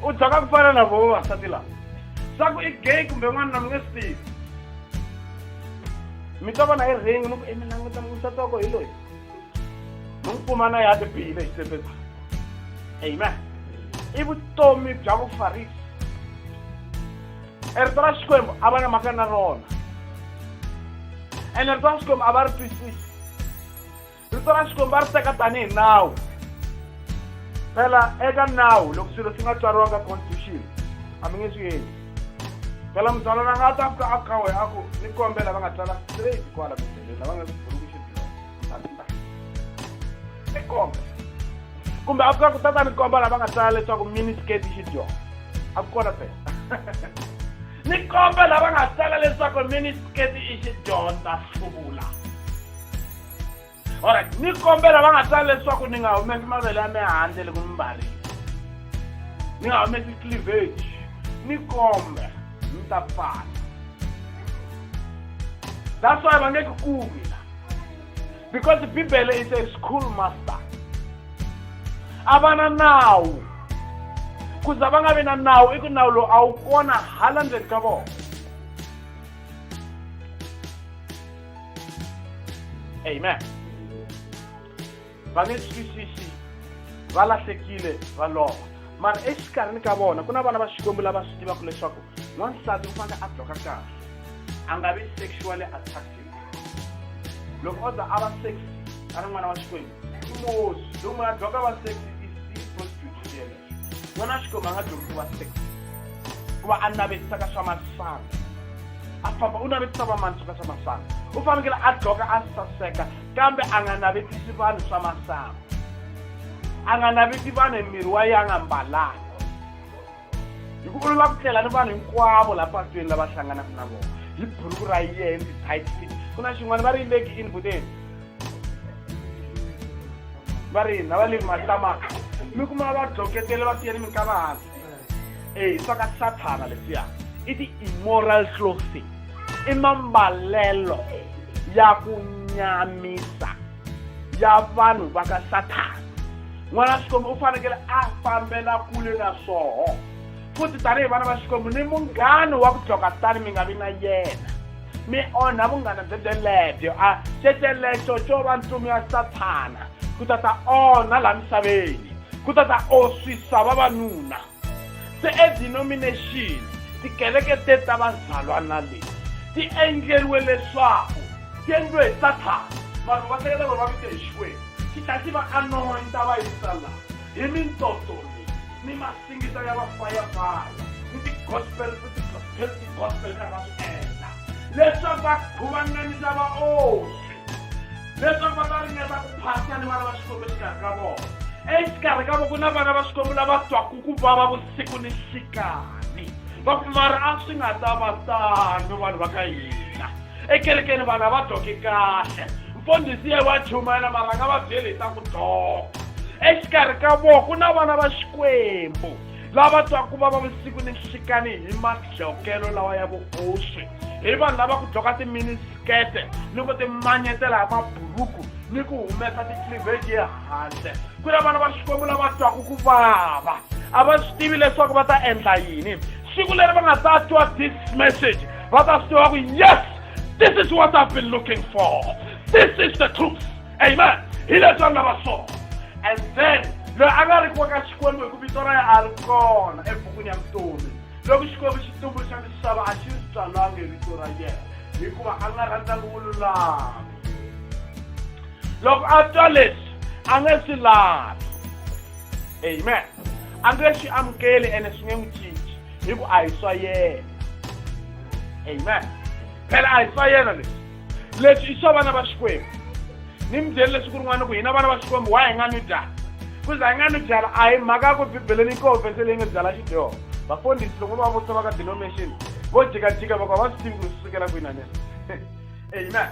u dyaka ku fana na vo vavasati lava swa ku i gay kumbe n'wana na mi nge swi tivi mi ta vona hi ring mi ku e mi languta n'wisati wa ko hi loyi mi n'wi kuma na ya ti bihile hi tsepeza amen i vutomi bya vufarisi e rito ra xikwembu a va na mhaka na rona ene rito ra xikwembu a va ri twisisi rito ra xikwembu va ri teka tanihi nawu phela eka nawu loko swilo swi nga tswariwanga constitution a mi nge swi endli phela muzalwana a nga ta fika a kawe a ku ni kombela va nga tsala straight kwala mibeleni lava nga kuburukuxi byona ni kombe kumbe a fika ku tata ni komba lava nga tsala leswaku mini skate xi dyona a ku kona phela ni kombe lava nga tsala leswaku mini skate i xi dyondza hluvula alright ni kombela va nga tsali leswaku ni nga humesi mavele ya mihandle loko mi mbarile ni nga humesi cleavage ni kombe ni ta pfala that's why va nge ku kumi la because bibele is a school master a va na nawu ku za va nga vi na nawu i ku nawu lowu a wu kona hala ndzeni ka vona amen va nge twisisi va lahlekile va lova mara exikarhini ka vona ku na vana va xikwembu lava swi tivaka leswaku n'wansati u fanele a bloka kahle a nga vi sexually attractive loko o za a va sexy a ri n'wana wa xikwembu i mosi loko munhu a bloka va sexy i prostitute yena vona xikwembu a nga dyondzisi wa sex ku va a navetisa ka swa masangu a famba u navetisa vamanso ka swa masangu u fanekele a dloka a saseka kambe a nga navetisi vanhu swa masangu a nga naveti vanhu hi miri wa ye a nga mbalanga hi ku olova ku tlela ni vanhu hinkwavo laha patweni lava hlanganaka na vona hi buruku ra yena titit fit ku na xin'wana va ri leki inbuteni va ri hina va le matamaka mi kuma va dloketele va siye ni minkava hansi e swa ka sathana leswiya i ti-immoral clothing i mambalelo ya ku nyamisa ya vanhu va ka sathana n'wana wa xikwembu u fanekele a fambela kule na swoho futhi tanihi vana va xikwembu ni munghano wa ku dloka tani mi nga vi na yena mi onha vunghana byebyelebyo a xexelexo xo va ntsumi ya sathana ku ta ta onha laha misaveni ku ta ta oswisa vavanuna se edenomination tikereke te ta vazalwana leti ti endleriwe leswaku ti endliwe hi sathana vanhu va hleketa loko va vite hi xikwembu xi tlhela xi va anointa va yisa laha hi mitsotso leyi ni tinsimu ta ya va fayafaya ni tigospel ni tigospel ta va swi endla leswaku va khuvanganisa vaoswi leswaku va ta ringeta ku phasa ni vana va xikwembu exikarhi ka vona exikarhi ka vona ku na vana va xikwembu lava twaku ku vava vusiku ni xikani va ku mara a swi nga ta va tano vanhu va ka hina ekerekeni vanhu a va dyoki kahle mfundhisi ye wa chumayela mara nga va byeli hi ta ku dyoka exikarhi ka vona ku na vana va xikwembu lava twaku va va vusiku ni nxikani hi madlokelo lawa ya vuoswi hi vanhu lava ku dyoka timinisikete ni ku timanyetela hi maburuku ni ku humesa ticliveji ehandle ku na vana va xikwembu lava twaku ku vava a va swi tivi leswaku va ta endla yini siku leri va nga ta twa this message Brother Story, yes, this is what I've been looking for. This is the truth. Amen. He let on our soul. And then, loyi a nga ri ku ka xikwembu hi ku vito ra yena a ri kona ebukwini ya vutomi loko xikwembu xi tumbuluxa misava a xi ri tswalanga hi vito ra yena hikuva a nga rhandzanga vululami loko a twa leswi a nge swi lavi amen a nge swi amukeli ene swi nge n'wi cinci hi ku a hi swa yena amen phela a hi swa yena leswi leswi i swa vana va xikwembu ni mi byeli leswi ku rin'wana ku hina vana va xikwembu wa hi nga ni byala kuze hi nga ni byala a hi mhaka ya ku bibeleni yi koho vese leyi nge byala xidyoho vafundhisi loko va vutisa va ka denomination vo jikajika va ku a va swi tivi ku ri swi sukela kwini anene amen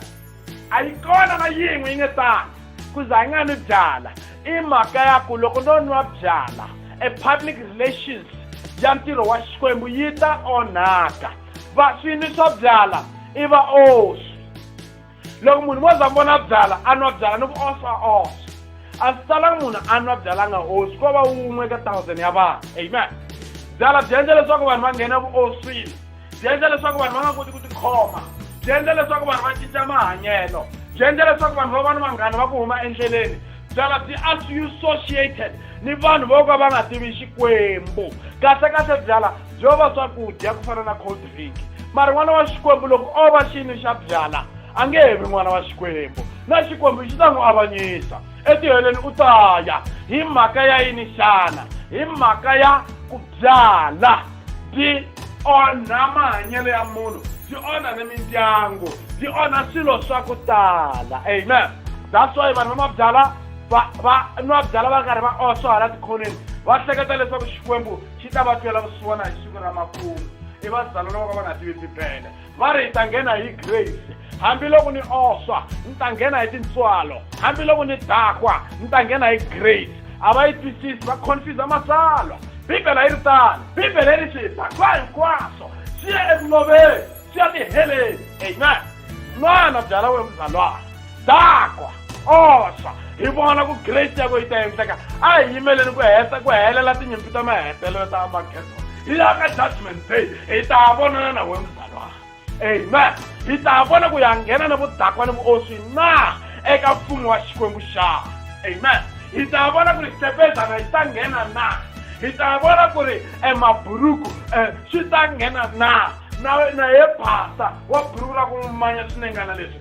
a yi kona na yin'we yi nge tani ku za yi nga ni byala i mhaka ya ku loko no nwa byala e public relations ya ntirho wa xikwembu yi ta onhaka va swinwi swa byala i va oswi loko munhu mo za mi vona byala a nwa byala ni ku oswa oswa a swi talanga munhu a nwa byala nga oswi ko va wun'we ka thousand ya vanhu amen byala byi endla leswaku vanhu va nghena vuoswini byi endla leswaku vanhu va nga koti ku tikhoma byi endla leswaku vanhu va cinca mahanyelo byi endla leswaku vanhu va va ni vanghana va ku huma endleleni byala byi associated ni vanhu vo ka va nga tivi xikwembu kahlekahle byala byo va swakudya ku fana na cold drink mara n'wana wa xikwembu loko o va xini xa byala a nge he vi n'wana wa xikwembu na xikwembu xi ta n'wi avanyisa etiheleni u ta ya hi mhaka ya yini xana hi mhaka ya ku byala byi onha mahanyelo ya munhu byi onha ni mindyangu byi onha swilo swa ku tala amen that's why vanhu va mabyala va va nwa byala va karhi va oswa hala tikhoneni va hleketa leswaku xikwembu xi ta va twela vusiwana hi siku ra makumu i vazalwana va ka va nga tivi bibele va ri hi ta nghena hi grace hambiloko ni oswa ni ta nghena hi tintswalo hambiloko ni dakwa ni ta nghena hi grace a va yi twisisi va confuse matsalwa bibele yi ri tano bibele yi ri swidakwa hinkwaswo swi ya eku loveni swi ya tiheleni amen n'wana byala we muzalwana dakwa oxa hi vona ku grace yako yi ta endleka a hi yimeleni ku heta ku helela tinyimpi ta mahetelelo ta amagedo hi ya ka judgment day hi ta vonana na wena mzalwana amen hi ta vona ku ya nghena ni vudakwa ni vuoswi na eka mfumo wa xikwembu xa amen hi ta vona ku ri xitepezana yi ta nghena na hi ta vona ku ri emaburuku um swi ta nghena na na na ye phasa wa buruku ra ku manya swinengana leswi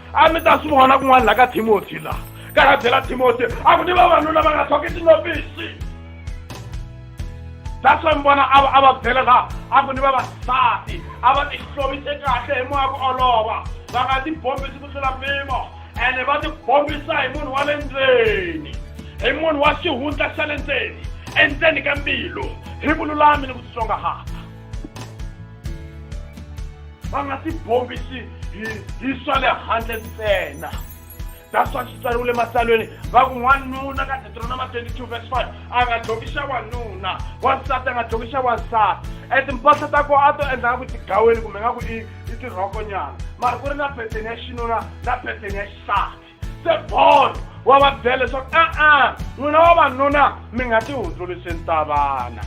a mi ta swi vona kun'wana laha ka timothy laha ka ya byela timothy a ku ni vavanuna va nga thoki tinopisi that's why mi vona a a va byela laha a ku ni vavasati a va tihlomise kahle hi moya ku olova va nga tibombisi ku tlula mpimo ene va tibombisa hi munhu wa le ndzeni hi munhu wa xihundla xa le ndzeni endzeni ka mbilu hi vululami ni ku titsongahata va nga si bombisi hi hi swa le handle ntsena that's why swi tsariwile matsalweni va ku n'wanuna ka deuteronoma 22 verse 5 a nga dloki xa wanuna wansati a nga dloki xa wansati e timpahla ta ko a to endla nga ku tigaweni kumbe nga ku i i tirhokonyana mara ku ri na pheteni ya xinuna na pheteni ya xisati se paul wa va byela leswaku a-a n'wina vavanuna mi nga ti hundzulisi ntavana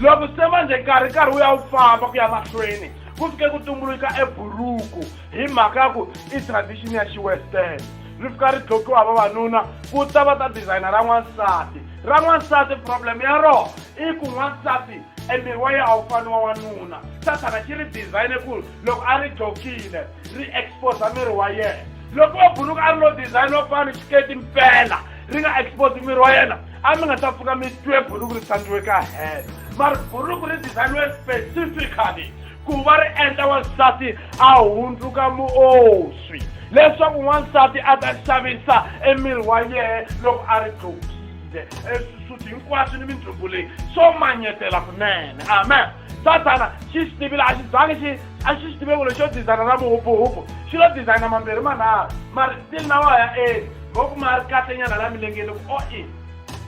loko se manjhe nkarhi nkarhi wu ya wu famba ku ya mahlweni ku fike ku tumbuluka eburuku hi mhaka ya ku i tradition ya xiwestern ri fika ri dlokiwa vavanuna ku ta va ta designer ra n'wansati ra n'wansati problem ya rona i ku n'wansati emiri wa yena a wu fani wa n'wanuna sathana xi ri design ku loko a ri dlokile ri exposa miri wa yena loko o buruka a ri lo design wa ku fana ni xiketi mpela ri nga expose miri wa yena a mi nga ta pfuka mi twe buruku ri tlangiwe ka hela mari buruku ri designiwe specifically ku va ri endla wansati a hundzuka muoswi leswaku n'wansati a ta xavisa emiri wa yehe loko a ri dlokile eswisuti hinkwaswo ni mindlumbu leyi swo manyetela kunene amen sathana xi xi tivile a xi zangi xi a xi xi tiveko lexo dizayina ra muhubuhubu xi lo dizayina mambirhi manharhu mari still na wa ya eli mo ku ma ri kahle nyana la milengeni ku o i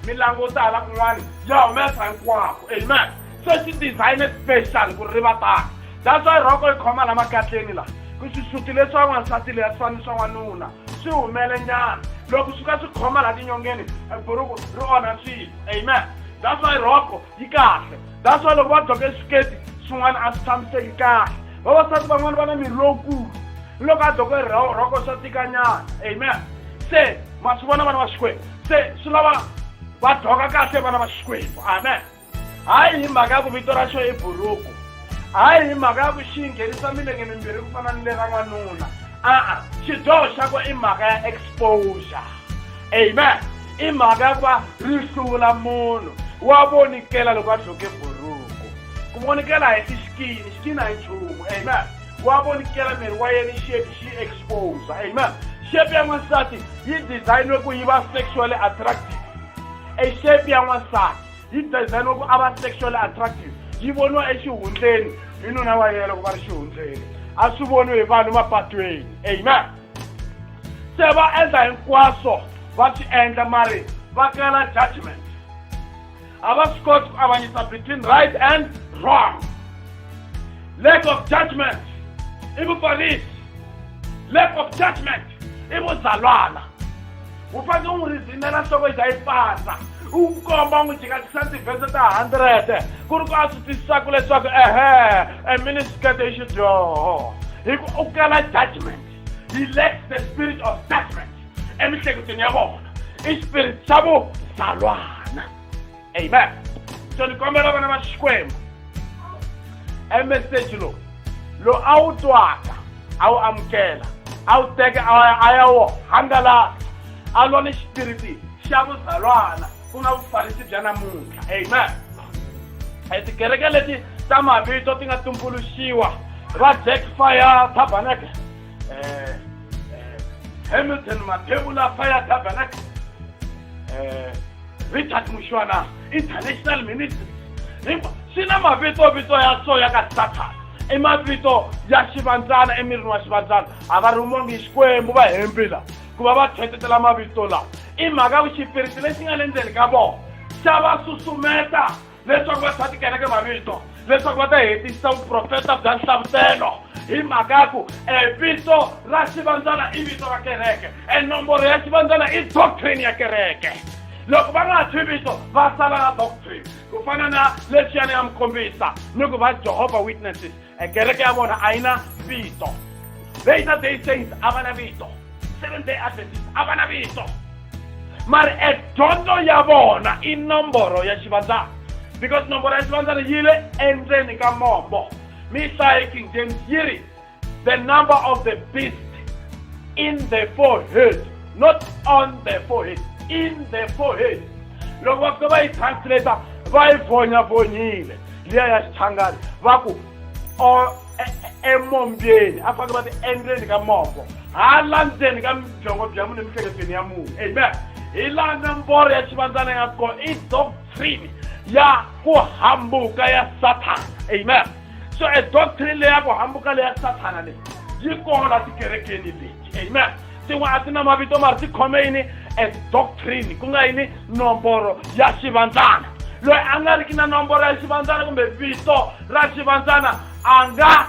mi languta hala kun'wana ya humesa hinkwako amen so xi dizayine special ku ri va tani that's why rhoko yi khoma la makatleni la ku xisuti leswi wa n'wansati leya swani swa n'wanuna swi humele nyana loko swi ka swi khoma la tinyongeni buruku ri onha swilo amen that's why rhoko yi kahle that's why loko va dyoka eswiketi swin'wana a swi tshamiseki kahle vavasati van'wana va na miri lowukulu ni loko a dyoka rhoko swa tikanyana amen se ma swi vona vana va xikwembu se swi lava va dyoka kahle vana va xikwembu amen hayi hi mhaka ya ku vito ra xo i buruku hayi hi mhaka ya ku xi nghenisa milenge mimbirhi ku fana ni le ra n'wanuna a-a xidyoho xa ku i mhaka ya exposure amen i mhaka ya ku va ri hlula munhu wa vonikela loko a dloke buruku ku vonikela hi i xikini xikini a hi nchumu amen wa vonikela miri wa yena shape xi exposure amen shape ya n'wansati yi designwe ku yi va sexually attractive e shape ya n'wansati yi dizayiniwa ku a va sexually attractive yi voniwa exihundleni hi nuna wa yena ku va ri xihundleni a swi voniwi hi vanhu mapatweni amen se va endla hinkwaswo va swi endla mari va kala judgment a va swi koti ku avanyisa between right and wrong lack of judgment i vufarisi lack of judgment i vuzalwana u fanele u n'wi rizinela nhloko yi za yi pasa u n'wi komba u n'wi jikajikisa tivhese ta hundred ku ri ku a swi twisisaka leswaku ehe a miniskete i xidyoho hi ku u kala judgment he lacks the spirit of judgment emihleketweni ya vona i xipirit xa vuzalwana amen so ni kombela vana va xikwembu emeseji lowu lowu a wu twaka a wu amukela a wu teke a ya wo hangalaka a lwa ni xipiriti xa vuzalwana ku nga vufarisi bya namuntlha amen e tikereke leti ta mavito ti nga tumbuluxiwa va jack fire tabernacle eh, eh, hamilton matebula fire tabernacle eh, richard mushwana international ministry hikuva swi na mavitovito ya so ya ka sathana i mavito ya xivandzana emirini wa xivandzana a va rhumongi xikwembu va hembi la ku va va tlhetetela mavito lawa i mhaka ku xipiriti lexi nga le ndzeni ka vona xa va susumeta leswaku va tshwa tikereke mavito leswaku va ta hetisisa vuprofeta bya nhlavutelo hi mhaka ya ku e vito ra xivandzana i vito ra kereke e nomboro ya xivandzana i doctrine ya kereke loko va nga ha thwi vito va sala na doctrine ku fana na leswiyani ya mukhombisa ni ku va jehovha witnesses e kereke ya vona a yi na vito later day saints a va na vito seven day adventist a va na vito mari e dyondzo ya vona i nomboro ya xivandzana because nomboro ya xivandzana yi le endzeni ka mombo mi hlaye king james yi ri the number of the beast in the forehead not on the forehead in the forehead loko va fika va yi translata va yi vonyavonyile liya ya xichangani va ku e-, e-, emombyeni a fanele va ti endzeni ka mombo hala ndzeni ka byongo bya munhu emihleketweni ya munhu amen hi laha nomboro ya xivandzana ya kona i doctrine ya ku hambuka ya sathana amen so e doctrine leyi ya ku hambuka leya sathana leyi yi kona tikerekeni leyi amen tin'we a ti na mavito mari ti khome yini as doctrine ku nga yini nomboro ya xivandzana loyi a nga ri ki na nomboro ya xivandzana kumbe vito ra xivandzana a nga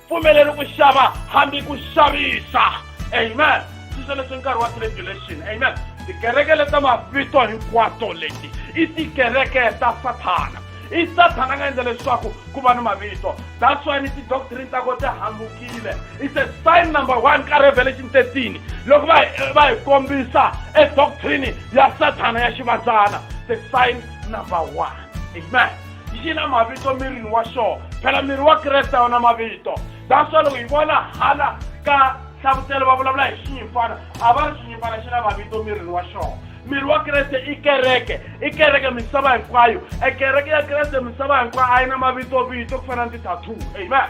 pfumeleri ku xava hambi ku xavisa amen sweswo leswi nkarhi wa tribulation amen tikereke leta mavito hinkwato leti i tikereke ta sathana i sathana a nga endla leswaku ku va ni mavito that's why ni tidoctrine ta ko ti hambukile it's a sign number one ka revelation 13 loko va va hi kombisa e doctrine ya sathana ya xivandzana the sign number one amen xi na mavito mirini wa xona phela miri wa kreste a wu na mavito that's why loko hi vona hala ka hlavutelo va vulavula hi xinyimfana a va ri xinyimfana xi na mavito mirini wa xona miri wa kreste i kereke i kereke misava hinkwayo e kereke ya kreste misava hinkwayo a yi na mavitovito ku fana ni ti-tattoo amen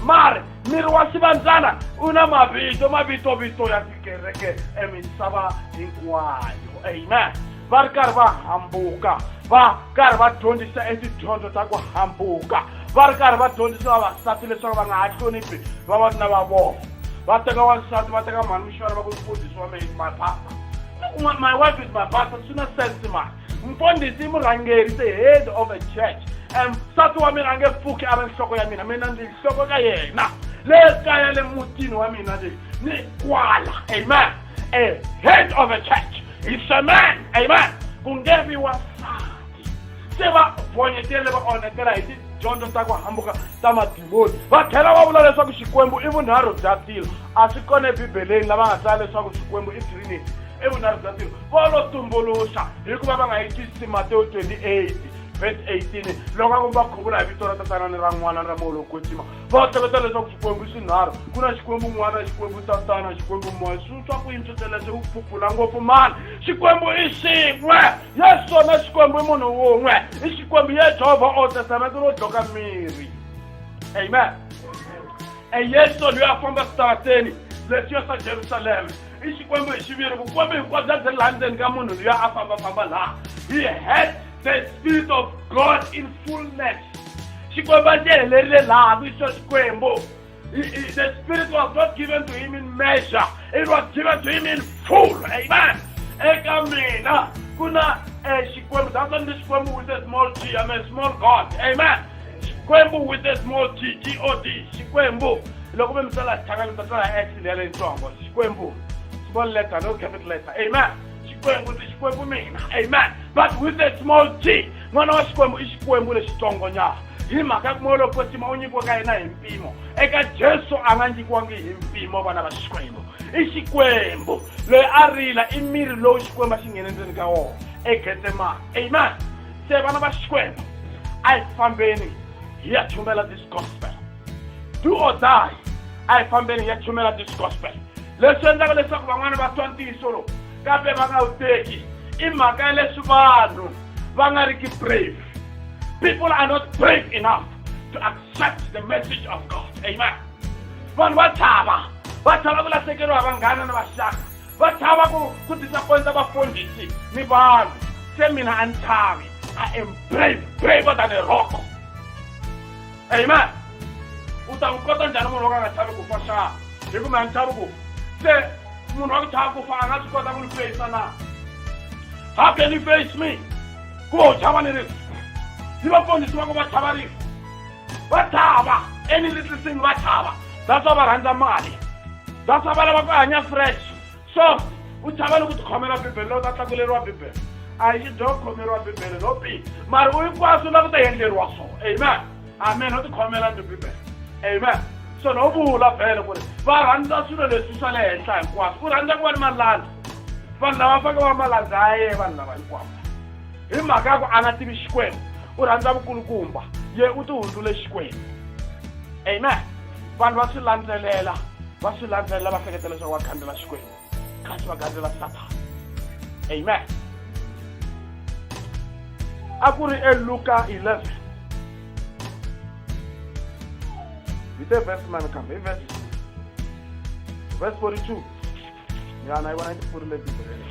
mari miri wa xivandzana u na mavito mavitovito ya tikereke emisava hinkwayo amen va ri karhi va hambuka va karhi va dyondzisa etidyondzo ta ku hambuka va ri karhi va dyondzisa vavasati leswaku va nga ha hloniphi vavanuna va vona va teka wansati va teka mhani muxana va ku mfundhisi wa mehe mapapa Look, my, my wife is my pastor, suna sense man. Mfundisi murhangeri is the head of a church. And nsati wa mina a nge pfuki a ri nhloko ya mina mina ndzi nhloko ka yena le kaya le mutini wa mina leyi ni kwala amen a head of a church is a man amen ku nge vi wansati se va vonyetele va onhetela hi tidyondzo ta ku hambuka ta madimoni va tlhela va vula leswaku xikwembu i vunharhu bya tilo a swi kona ebibeleni lava nga tsala leswaku xikwembu i trinity i vunharhu bya tilo vo lo tumbuluxa hikuva va nga yi twisisi matewu 28 verse 18 loko a ku va khuvula hi vito ra tatana ni ra n'wana ni ra moya lowu kwetsima va hleketa leswaku xikwembu i swinharhu ku na xikwembu n'wana xikwembu tatana xikwembu moya swi swa ku yini swo teleswo u phupula ngopfu mani xikwembu i xin'we yesu swona xikwembu i munhu wun'we i xikwembu ye jehovha o testamento ro dloka miri amen e yesu loyi a famba switarateni leswiya swa jerusalema i xikwembu hi xiviri vukwembu hinkwabyo byi laha ndzeni ka munhu loyi a fambafamba laha he had the spirit of god in fullness xikwembu a xi helerile laha ku yisiwa xikwembu He, he, the Spirit was not given to him in measure. It was given to him in full. Amen. Eka mina kuna eh, Xikwembu. That's why this Xikwembu with a small g. I'm a small God. Amen. Xikwembu with a small g. G-O-D. Xikwembu. Loko mi misala hlanganisa sala X leya leyitsongo. Xikwembu. Small letter, no capital letter. Amen. Xikwembu ndzi Xikwembu mina. Amen. But with a small g. N'wana wa Xikwembu i Xikwembu lexitsongo nyana. hi mhaka ku molo kwetsima u nyikiwe ka yena hi mpimo eka jesu a nga nyikiwangi hi mpimo vana va xikwembu i xikwembu loyi a rila i miri lowu xikwembu a xi nghene ndzeni ka wona egetsemane amen se vana va xikwembu a hi fambeni hi ya chumela this gospel do or die a hi fambeni hi ya chumela this gospel leswi endlaka leswaku van'wana va twa ntiyiso lowu kambe va nga wu teki i mhaka ya leswi vanhu va nga ri ki brave People are not brave enough to accept the message of God. Amen. vanhu va chava va chava ku lahlekeriwa vanghana na vaxaka va chava ku ku disappointa vafundhisi ni vanhu se mina a ni chavi i am brave braver than a rock amen u ta n'wi kota njhani munhu wo ka nga chavi ku fa xana hi ku mi a ni chavi ku se munhu wa ku chava ku fa a nga swi kota ku ni feyisa na how can you face me ku va u chava ni rifu ni vafundhisi va ku va chava rifu va chava enilitlisini va chava daswa va rhandza mali daswa va lava ku hanya fresh soft u chava ni ku tikhomela bibele lowu ta tlakuleriwa bibele a yi dyo khomeriwa bibele no pi mari u hinkwaswo la ku ta endleriwa swona amen amen ho tikhomela ni bibele amen so no vula bele ku ri va rhandza swilo leswi swa le henhla hinkwaswo u rhandza ku va ni malandza vanhu lava fake va malandza ya ye vanhu lava hinkwavo hi mhaka ya ku a nga tivi xikwembu u rhandza vukulukumba ye u ti hundzule xikwembu amen vanhu va swi landzelela va swi landzelela va hleketa leswaku va khandzela xikwembu kasi va gandzela sathana amen a ku ri eluka 11 hi te vhesi mani kambe hi vhesi vhesi 42 ya na yi vona yi ti pfurile bibeleni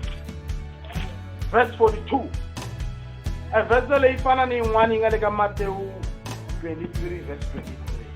vhesi 42 evhese leyi fana ni yin'wana yi nga le ka matewu 23 vhesi 23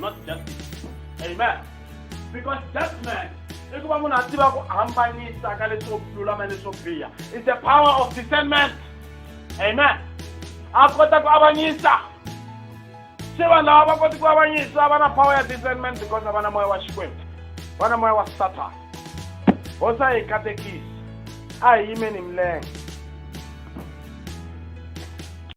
not justice amen because judgment i ku va munhu a tiva ku hambanyisa ka leswo lulama leswo biha is the power of discernment amen a kota ku avanyisa se vanhu lava va koti ku avanyisa va na power ya discernment because a va na moya wa xikwembu va na moya wa satan hosi a hi katekisi a hi yimeni milenge